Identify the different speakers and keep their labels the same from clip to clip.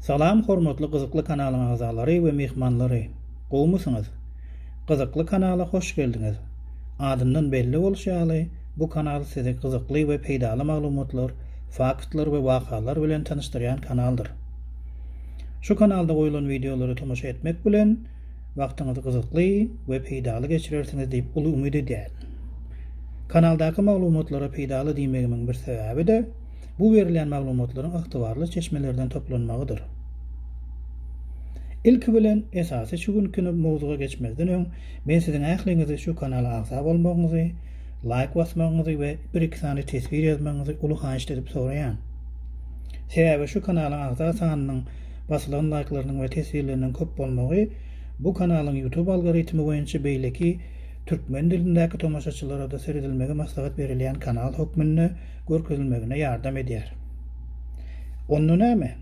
Speaker 1: Salam hormatly gyzykly kanalyň agzalary we myhmanlary! Gowmysyňyz? Gyzykly kanala hoş geldiňiz! Adyndan belli bolşy ýaly, bu kanal sizi gyzykly we peýdaly maglumatlar, faktlar we wakalar bilen tanyşdyrýan kanaldyr. Şu kanalda goýulan wideolara tomaşa etmek bilen, wagtyňyzy gyzykly we peýdaly geçirersiňiz diýip uly umyt edýärin. Kanaldaky maglumatlara peýdaly diýmegimiň bir sebäbi-de, bu berilýän maglumatlaryň ygtybarly çeşmelerden toplanmagydyr. Ilki bilen, esasy şu günki mowzuga geçmezden öň, men siziň ähliňizi şu kanala agza bolmagyňyzy, laýk basmagyňyzy we bir-iki sany teswir ýazmagyňyzy uly haýyşt edip soraýan. Sebäbi şu kanalyň agza sanynyň basylan laýklarynyň we teswirleriniň köp bolmagy bu kanalyň YouTube algoritmi boýunça beýleki türkmen dilindäki tomaşaçylarada seredilmegi maslahat berilýän kanal hökmünde görkezilmegine ýardam edýär. Onda näme?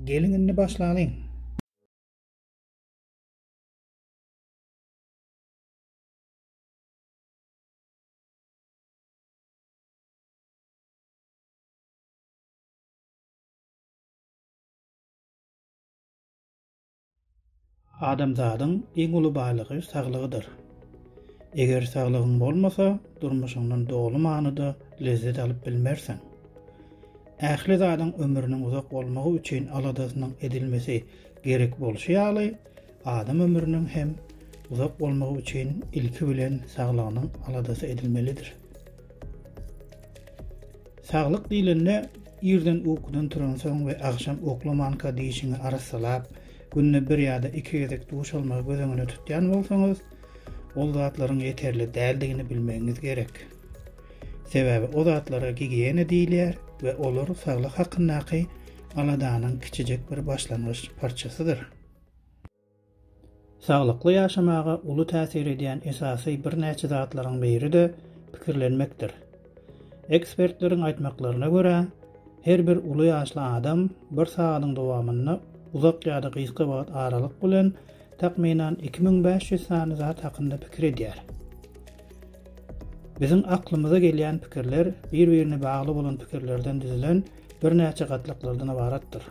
Speaker 1: Geliň indi başlalyň! Adamzadyň iň uly baýlygy saglygydyr. Eger saglygyň bolmasa, durmuşyňdan doly manyda lezzet alyp bilmersiň. Ähli zadyň ömrüniň uzak bolmagy üçin aladasynyň edilmesi gerek bolşy ýaly, adam ömrüniň hem uzak bolmagy üçin ilki bilen saglygynyň aladasy edilmelidir. Saglyk diýlende, irden ukudan turansoň we agşam uklamanka dişiňi arassalap, günde bir ýa-da iki gezek duş almagy göz öňünde tutýan bolsaňyz, ol zatlaryň ýeterli däldigini bilmegiňiz gerek. Sebäbi o zatlara gigiýena diýilýär we olar saglyk hakyndaky aladanyň kiçijek bir başlangyç parçasydyr. Saglykly ýaşamaga uly täsir edýän esasy birnäçe zatlaryň biri-de pikirlenmekdir. Ekspertleriň aýtmaklaryna görä, her bir uly ýaşly adam bir sagadyň dowamynda uzak ýa-da gysga wagt aralyk bilen takmynan iki müň bäş ýüz sany zat hakynda pikir edýär. Biziň aklymyza gelýän pikirler bir-birine bagly bolan pikirlerden düzülen birnäçe gatlaklardan ybaratdyr.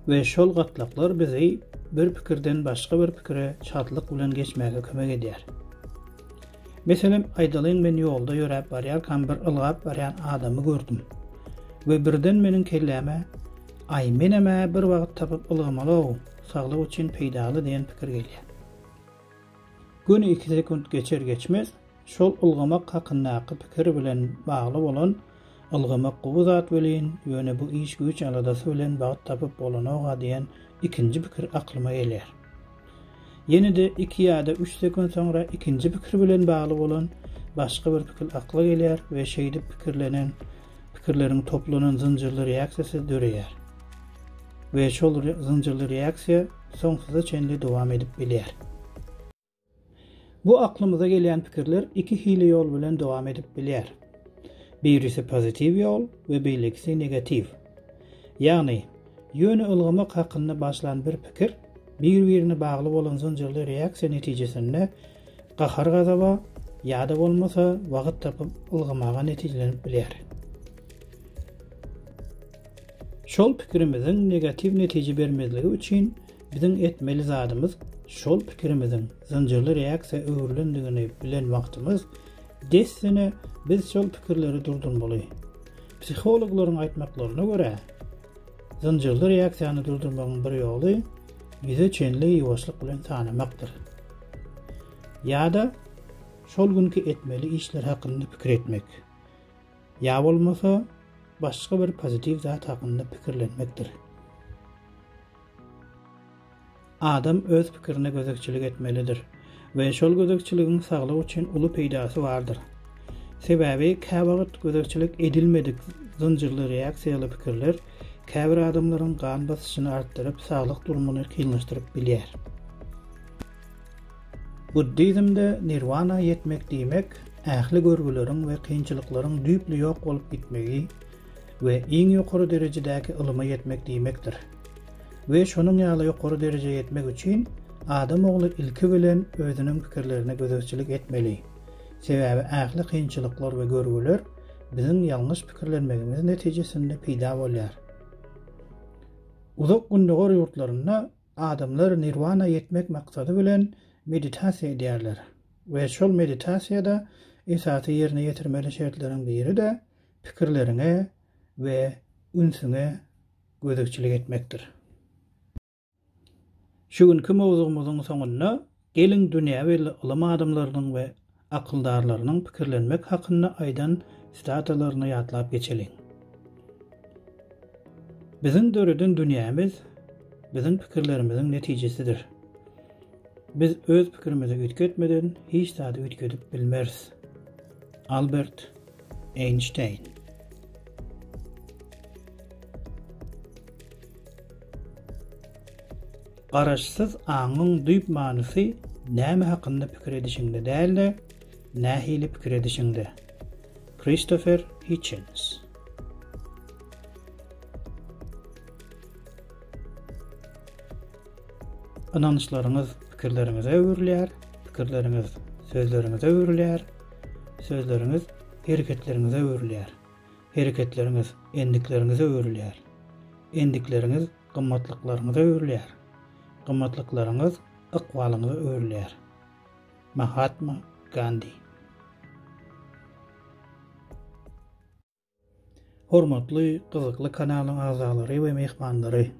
Speaker 1: We şol gatlaklar bizi bir pikirden başga bir pikire çatlyk bilen geçmäge kömek edýär. Meselem aýdalyň men ýolda ýöräp barýarkam bir ylgap barýan adamy gördüm. We birden meniň kelläme Aý menem-ä bir wagt tapyp ylgamaly-ow, saglyk üçin peýdaly diýen pikir gelýär. Göni iki sekunt geçer geçmez Şol ylgamak hakyndaky pikir bilen bagly bolan, Ylgamak gowy zat welin, ýöne bu iş-güýç aladasy bilen bagt tapyp bolanok-a diýen ikinji pikir aklyma gelýär. Ýene-de iki ýa-da üç sekund soňra ikinji pikir bilen bagly bolan başga bir pikir akla gelýär we şeýdip pikirlenen pikirleriň toplanan zynjyrly reaksiýasy döreýär we şol zynjyrly reaksiýa soňsuza çenli dowam edip bilýär. Bu aklymyza gelýän pikirler iki hili ýol bilen dowam edip bilýär. Birisi pozitiw ýol we beýlekisi negatiw. Ýagny, ýöne ylgamak hakynda başlan bir pikir bir-birine bagly bolan zynjyrly reaksiýa netijesinde gahar-gazaba ýa-da bolmasa wagt tapyp ylgamaga netijelenip bilýär. Şol pikirimiziň negatiw netije bermezligi üçin Biziň etmeli zadymyz şol pikirimiziň zynjyrly reaksiýa öwrülendigini bilen wagtymyz, dessine biz şol pikirleri durdurmaly. Psihologlaryň aýtmaklaryna görä, zynjyrly reaksiýany durdurmagyň bir ýoly ýüze çenli ýuwaşlyk bilen sanamakdyr. Ýa-da şol günki etmeli işler hakynda pikir etmek. Ýa bolmasa, başga bir pozitiw zat hakynda pikirlenmekdir. Adam öz pikirine gözegçilik etmelidir we şol gözegçiligiň saglyk üçin uly peýdasy bardyr. Sebäbi käwagt gözegçilik edilmedik zynjyrly reaksiýaly pikirler käbir adamlaryň gan basyşyny artdyryp, saglyk durumyny kynlaşdyryp bilýär. Buddizmde nirwana ýetmek diýmek ähli görgüleriň we kynçylyklaryň düýpli ýok bolup gitmegi we iň ýokary derejedäki ylyma ýetmek diýmekdir. We şonuň ýaly ýokary derejä ýetmek üçin adam ogly ilki bilen özüniň pikirlerine gözegçilik etmeli. Sebäbi ähli kynçylyklar we görgüler biziň ýalňyş pikirlenmegimiz netijesinde peýda bolýar. Uzak Gündogar ýurtlarynda Adamlar nirwana ýetmek maksady bilen meditasiýa edýärler we şol meditasiýada esasy ýerine ýetirmeli şertleriň biri-de pikirleriňe we ünsüňe gözegçilik etmekdir. Şu günki mowzugymyzyň soňunda Geliň dünýä belli ylym adamlarynyň we akyldarlarynyň pikirlenmek hakynda aýdan sitatalarny ýatlap geçeliň. Biziň döreden dünýämiz biziň pikirlerimiziň netijesidir. Biz öz pikirimizi üýtgetmeden hiç zady üýtgedip bilmeris. Albert Eýnşteýn. Garaşsyz aňyň düýp manysy näme hakynda pikir edişiňde däl-de, nähili pikir edişiňde. Kristofer Hitchens. Ynançlaryňyz pikirleriňize öwrülýär, pikirleriňiz sözleriňize öwrülýär, sözleriňiz hereketleriňize öwrülýär, hereketleriňiz endikleriňize öwrülýär, endikleriňiz Gymmatlyklaryňyza öwrülýär. Gymmatlyklaryňyz ykbalyňyza öwrülýär. Mahatma Gandi. Hormatly gyzykly kanalyň agzalary we myhmanlary!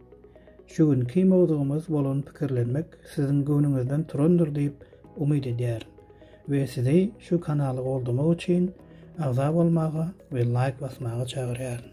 Speaker 1: Şu günki mowzugymyz bolan pikirlenmek siziň göwnüňizden turandyr diýip umyt edýärin we sizi şu kanaly goldamak üçin agza bolmaga we laýk basmaga çagyrýaryn.